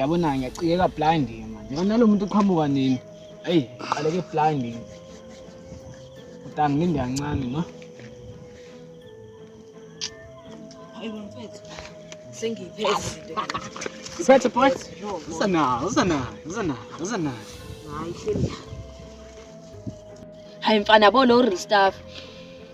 yabona ngiyacikeka blind manje yona lo muntu uqhamuka nini eyi qaleke blind utani nginde kancane no Siphethe boy. Usanayo, usanayo, usanayo, usanayo. Hayi hleli. Hayi mfana bo lo real stuff.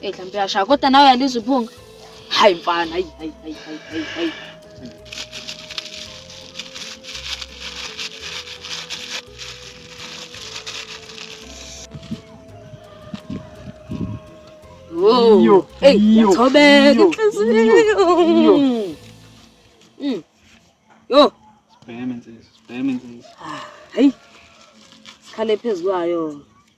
Hey hlampe yashaya kodwa nawe uyalizwa iphunga. Hayi mfana, hayi hayi hayi hayi hayi. Yo, hey, yathobe inhliziyo. Mm. Yo. Sibheme insizwa, sibheme insizwa. Hayi. Sikhale phezulu kwayo.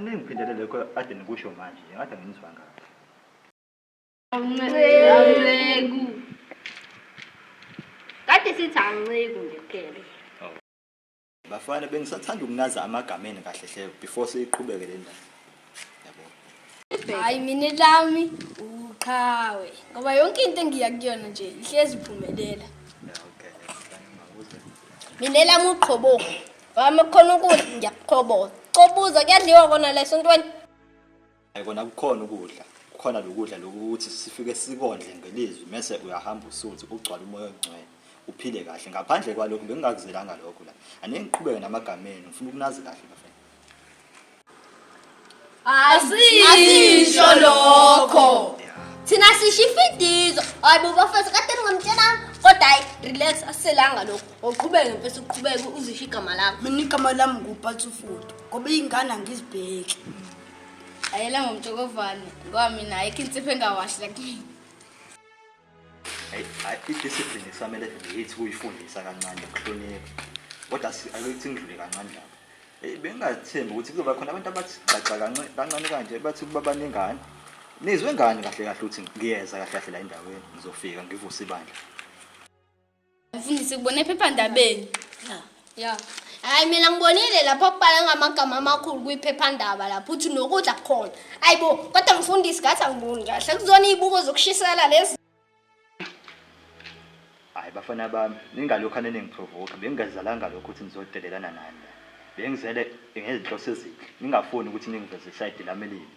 Ningiphindele lokho ade nikusho manje, ngathi anginizwa kahle. Awunceku. Kade sithi anceku nje kuphela. Bafana bengisathanda ukunaza amagama enu kahle hle before siqhubeke le ndaba. Yabo. Hayi mina lami uqhawe ngoba yonke into engiya kuyona nje ihlezi iphumelela. Yeah, okay. Mina lami uqhobo. Mama khona ukudla ngiyakuqhoboza. Qobuza kuyadliwa kona la esontweni. Hayi kona kukhona ukudla. Kukhona lokudla lokuthi sifike sikondle ngelizwi mese uyahamba usuthi ugcwala umoya ongcwele. Uphile kahle ngaphandle kwalokho bengingakuzelanga lokho la. Anengiqhubeke namagameni ngifuna ukunazi kahle bafana. asisho lokho thina sisho ifidizo hayi bo bafethu kade ningamtshelanga kodwa hayi relax asiselanga lokho ngoqhubeke mfethu uqhubeke uzisho igama lakho mina igama lami ngubhatsufudu ngoba iy'ngane angizibheki ayela ngomtshokovane ngoba mina ayikho insipho engawashi lakini Hayi, hayi, i-discipline kusamele ngiyithi kuyifundisa kancane ukuhlonipha kodwa si- akuyithi ngidlule kancane lapho Eh, bengingathembi ukuthi kuzoba khona abantu abathi gxagxa kance- kancane kanje bathi kuba baningane nizwe ngani kahle kahle ukuthi ngiyeza kahle kahle la endaweni ngizofika ngivuse ibandla Mfundisi kubona ephephandabeni. Ya. Ya. Hayi mina ngibonile lapho kubhala ngamagama amakhulu kwiphephandaba lapho uthi nokudla kukhona. Ayibo kodwa mfundisi ngathi angiboni kahle kuzona izibuko zokushisela lezi. Hayi bafana bami, ningalokhu aninengiprovoke. Bengingazalanga lokho ukuthi nizodelelana nani. Bengizele ngezinhloso ezinhle. Ningafuni ukuthi ningiveze isayidi lami elibi.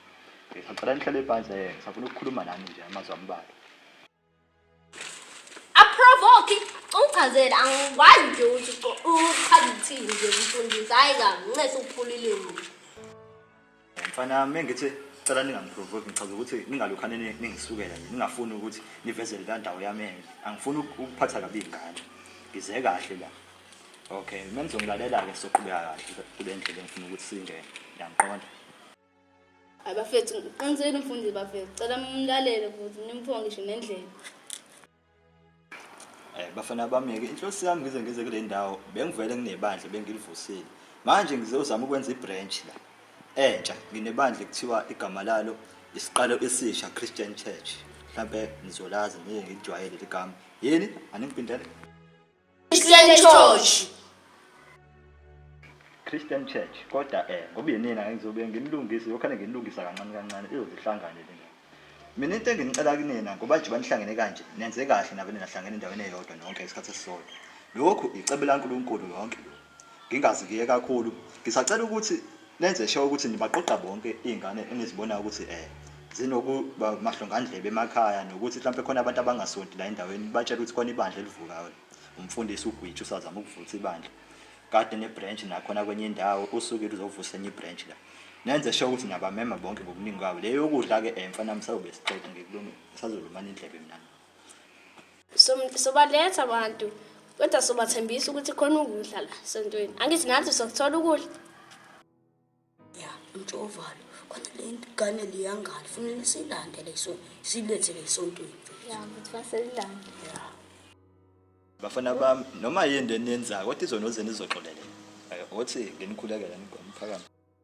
Ngisacela nihlale phansi eh, ngisafuna ukukhuluma nani nje amazwi ambalwa. Aprovoke uchazela angikwazi nje ukuthi uchaza ukuthini nje umfundisi hayi kabi ncese ukuphula ilimi. Mfana yami engithi cela ningangiprovoke ngichaza ukuthi ningalokhane ningisukela nje ningafuni ukuthi nivezele la ndawo yami enye angifuni ukuphatha kabi ingane ngize kahle la okay uma nizongilalela-ke soqhubeka kahle kule ndlela engifuna ukuthi singene ngiyangiqonda Hayi bafethu ngiqinisele umfundisi bafethu cela mumlalele futhi nimthiwa ngisho nendlela. Eh bafana bameke inhloso yami ngize ngize kule ndawo bengivele nginebandla bengilivusile. Manje ngizozama ukwenza ibranch la. Entsha nginebandla ekuthiwa igama lalo isiqalo esisha Christian Church. Mhlambe nizolazi ngeke ngijwayele ligama. Yini aningipindele? Christian Church. Christian Church kodwa eh ngoba yinina ngizobe ngimlungise yokhane ngimlungisa kancane kancane izozihlangane lena mina into enginicela kunina ngoba nje banihlangene kanje nenze kahle nabo ninahlangene endaweni eyodwa nonke isikhathi esisodwa lokhu icebo laNkulunkulu yonke lokhu Ngingazi ngiye kakhulu. Ngisacela ukuthi nenze sure ukuthi nibaqoqa bonke iy'ngane enizibonayo ukuthi um zinokuba mahlongandlebe emakhaya nokuthi mhlawumpe khona abantu abangasonti la endaweni nibatshele ukuthi khona ibandla elivukayo umfundisi ugwitsha usazama ukuvutha ibandla kade ne-branch nakhona kwenye indawo usukile uzovusa enye i-branch la nenze sure ukuthi niyabamema bonke ngobuningi kwabo le yokudla-ke um mfana msawube siqeda ngikulungile ngisazolumana indlebe mina sobaletha abantu kodwa sobathembisa ukuthi khona ukudla la sontweni angithi nathi sokuthola ukudla ya mtshovalo khona le ngane liyangani funele silande leso silethe lesontweni ya mfethu baselilande ya bafana bami noma yini leniyenzayo kodwa izona oze nizoxolelela ukuthi nginikhulekela nigoma phakama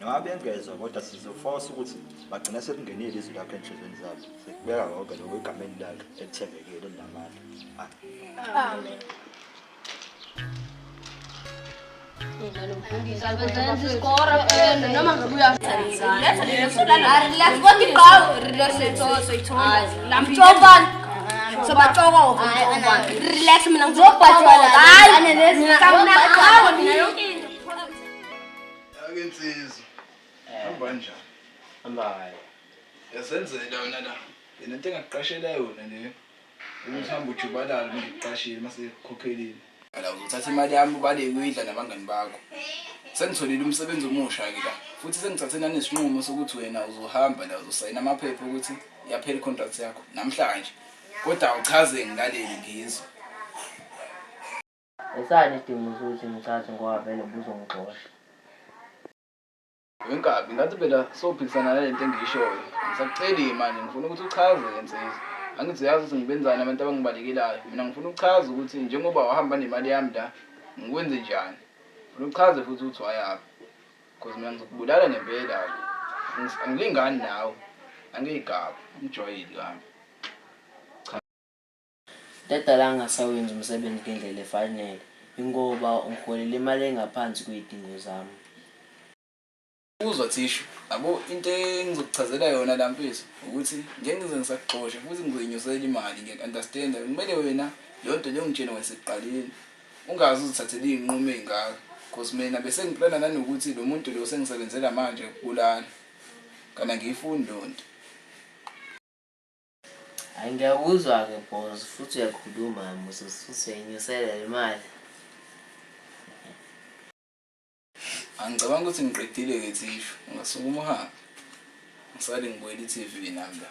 noma bengezwa kodwa sizofosa ukuthi bagcina sekungenile izwi lakho enhlizweni zabo sekubeka konke lokho egameni lakhe elithembekile elinamandla amen Relax, mina ngizobhajola. Hayi, mina ngizobhajola. Ake insizwa. Hamba njani? Hamba hayi. Yasenzela wena la. Yena into engakuqashela yona le. Ukuthi hamba ujubalala uma ngikuqashile uma sekukhokhelile. Ala uzothatha imali yami ubale kuyidla nabangani bakho. Sengitholile umsebenzi omusha ke la. Futhi sengithathe nani isinqumo sokuthi wena uzohamba la uzosayina amaphepha ukuthi yaphela icontract yakho namhlanje. Kodwa awuchaze ngilalele ngizwe. Esani isidingo sokuthi ngithathe ngoba vele buzongixosha. Wenkabi, ngathi phela sophikisana nale nto engiyishoyo. Ngisakuceli-ke manje, ngifuna ukuthi uchaze-ke nsizwa. Angithi uyazi ukuthi ngibenzani abantu abangibalekelayo. Mina ngifuna ukuchaza ukuthi njengoba wahamba nemali yami la, ngikwenze njani. Ngifuna uchaze futhi ukuthi wayaphi. Cause mina ngizokubulala ngempela-ke. Angis- Angilingani nawe. Angiyigaba, angijwayeli kambi. Into edala ngingasawenzi umsebenzi ngendlela efanele yingoba ungiholela imali engaphansi kwezidingo zami. Uzwa Thishu, yabo into engizokuchazela yona la mfethu ukuthi njengize ngisakuxosha futhi ngizoyinyusela imali ngiya understand kumele wena leyonto le ungitshene kwasekuqaleni ungaze uzithathele izinqumo ezingaka cause mina besengiplana nanokuthi lomuntu lo sengisebenzela manje ukubulala kana ngiyifuni lonto Ay ngiyakuzwa ke boss futhi uyakhuluma musa futhi uyayinyusela imali. Angicabanga ukuthi ngiqedile ke thishu ungasukuma uhambe. Ngisale ngibuyela i-TV nami la.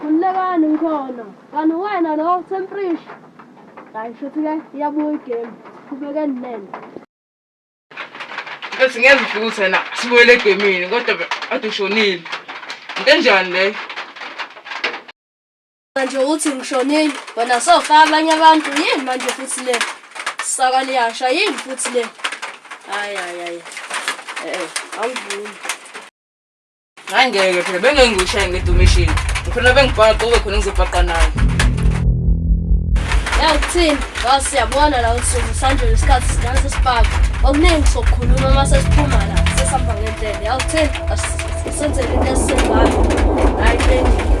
Khululekani ngikhona. Kanti uwena lo Themprish. Hayi shuthi ke iyabuya igame. Siqhubekeni nene. Bese ngeke ufike uthi wena sibuyele egemini kodwa be- kade ushonile. Into enjani leyo? Manje uthi ngishonile wena sofa abanye abantu yini manje futhi le saka liyasha yini futhi le hayi hayi hayi eh angivumi Hayi ngeke phela bengeke ngiwushaye ngedumishini. Ngifuna bengibhaqa ube khona ngizobhaqa naye. Yangithini? Ngazi siyabona la usuku sanjolo isikhathi sidansa isibhaku. Okuningi sokukhuluma uma sesiphuma la sesihamba ngendlela. Yangithini? Asisenzele into esisembayo. Hayi bengeke.